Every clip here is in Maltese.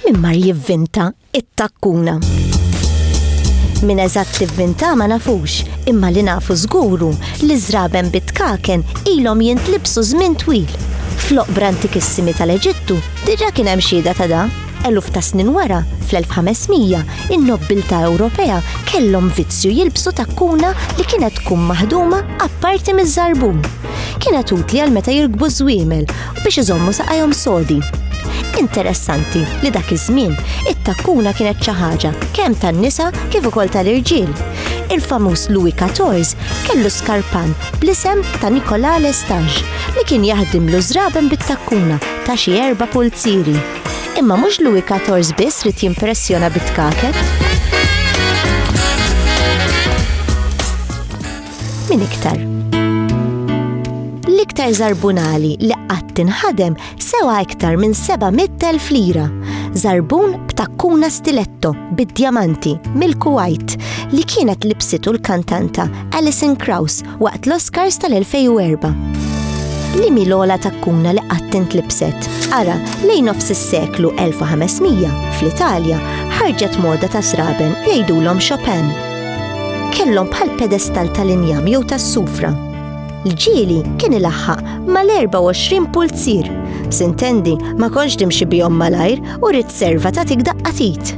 Min mar jivvinta it-takkuna. Min eżatt tivvinta ma nafux, imma li nafu żguru li żraben bit-tkaken ilhom jintlibsu żmien twil. Floq brantikissimi tal-Eġittu diġa kien hemm xieda ta' da. Eluf ta' snin wara, fl-1500, in-nobbiltà Ewropea kellhom vizzju jilbsu takkuna li kienet tkun maħduma apparti miż-żarbun. Kienet utli għal meta jirkbu ż-żwiemel u biex iżommu saqajhom sodi. Interessanti li dak iż-żmien it-takkuna kienet xi ħaġa kemm tan-nisa kif ukoll tal-irġiel. Il-famuż Louis Quatorze kellu skarpan bl-isem ta' Nicolas Lestage li kien jaħdimlu ż-żraben bit-takkuna ta' xi erba' pulzieri. Imma mhux Louis Katorz biss rid jimpressjona bit-tkaket. Min iktar? L-iktar zarbunali li qatt inħadem sewa iktar minn 700,000 lira. Zarbun b'takkuna stiletto bid-djamanti mill-Kuwait li kienet libsitu l-kantanta Alison Krauss waqt l-Oscars tal-2004. Li mi l-ola takkuna li qattent libset. Ara, lejn nofs is-seklu 1500 fl-Italja ħarġet moda ta' sraben li jgħidulhom Chopin. Kellhom bħal pedestal tal-injam jew tas-sufra. L-ġieli kien ilaħħaq mal-24 pulzir. Sintendi ma konx timxi bihom malajr u rrid serva ta' tik daqqatit.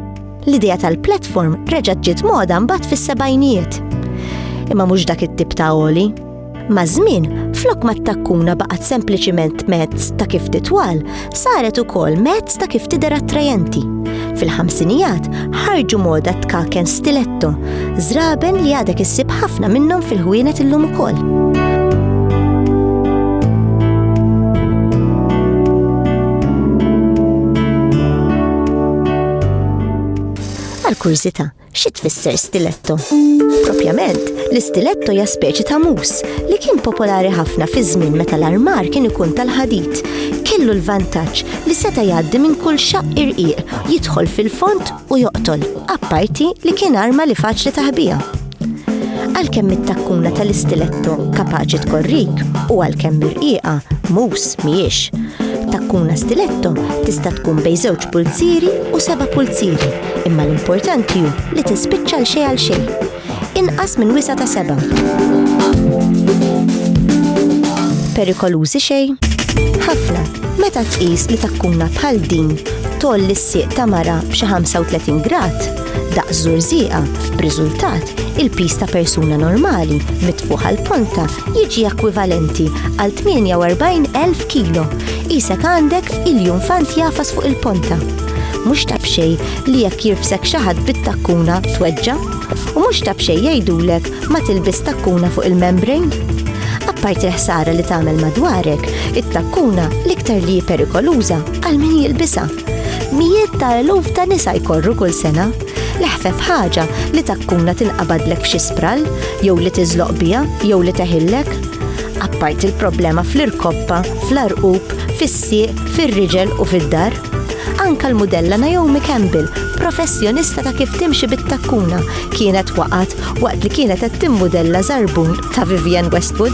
L-idea tal-platform reġgħet ġiet moda mbagħad fis-sebgħinijiet. Imma mhux dak it-tip ta' oli. Ma' żmien, flok ma takkuna baqgħet sempliċiment mezz ta' kif titwal, saret ukoll mezz ta' kif tidher attrajenti. Fil-ħamsinijat ħarġu moda tkaken stiletto, żraben li għadek issib ħafna minnhom fil-ħwienet illum ukoll. Għal kurżità, xi tfisser stiletto? Propjament, l-istiletto hija speċi ta' mus li kien popolari ħafna fi żmien meta l-armar kien ikun tal-ħadid. Kellu l-vantaġġ li seta' jgħaddi minn kull xaqq irqiq, jidħol fil-fond u joqtol, apparti li kien arma li faċli taħbija. Għalkemm it-takkuna tal-istiletto kapaċi tkorrik u għalkemm mirqieqa mus mhijiex. Takkuna stiletto tista' tkun bejn żewġ pulzieri u seba' pulzieri, imma l-importanti hu li tispiċċa l xejn għal xejn. Inqas minn wisa ta' seba'. Perikolużi xejn? Ħafna, meta tqis li takkuna bħal din tolli s-sieq ta' mara b'xi 35 grad, daqs żurżieqa, b'riżultat il-piż ta' persuna normali mitfuħa l-ponta jiġi ekwivalenti għal 48,000 kilo. Isek għandek iljun fant jafas fuq il-ponta. Mhux ta' bxej li jekk jirfsek xi ħadd bit-takkuna tweġġa' u mhux ta' bxej jgħidulek ma tilbis takkuna fuq il-membrane. Apparti l-ħsara li tagħmel madwarek, it-takkuna l-iktar li perikoluża għal min jilbisa. Mijiet ta' eluf ta' nisa jkorru kull sena. L-ħfef ħaġa li takkuna tinqabadlek f'xi sprall, jew li tiżloq biha, jew li teħillek. Apparti l-problema fl-irkoppa, fl-arqub, fis-sieq, fir-riġel u fid-dar. Anka l-mudella Naomi Campbell, professjonista ta' kif timxi bit-takkuna, kienet waqgħet waqt li kienet qed timmudella żarbun ta' Vivienne Westwood.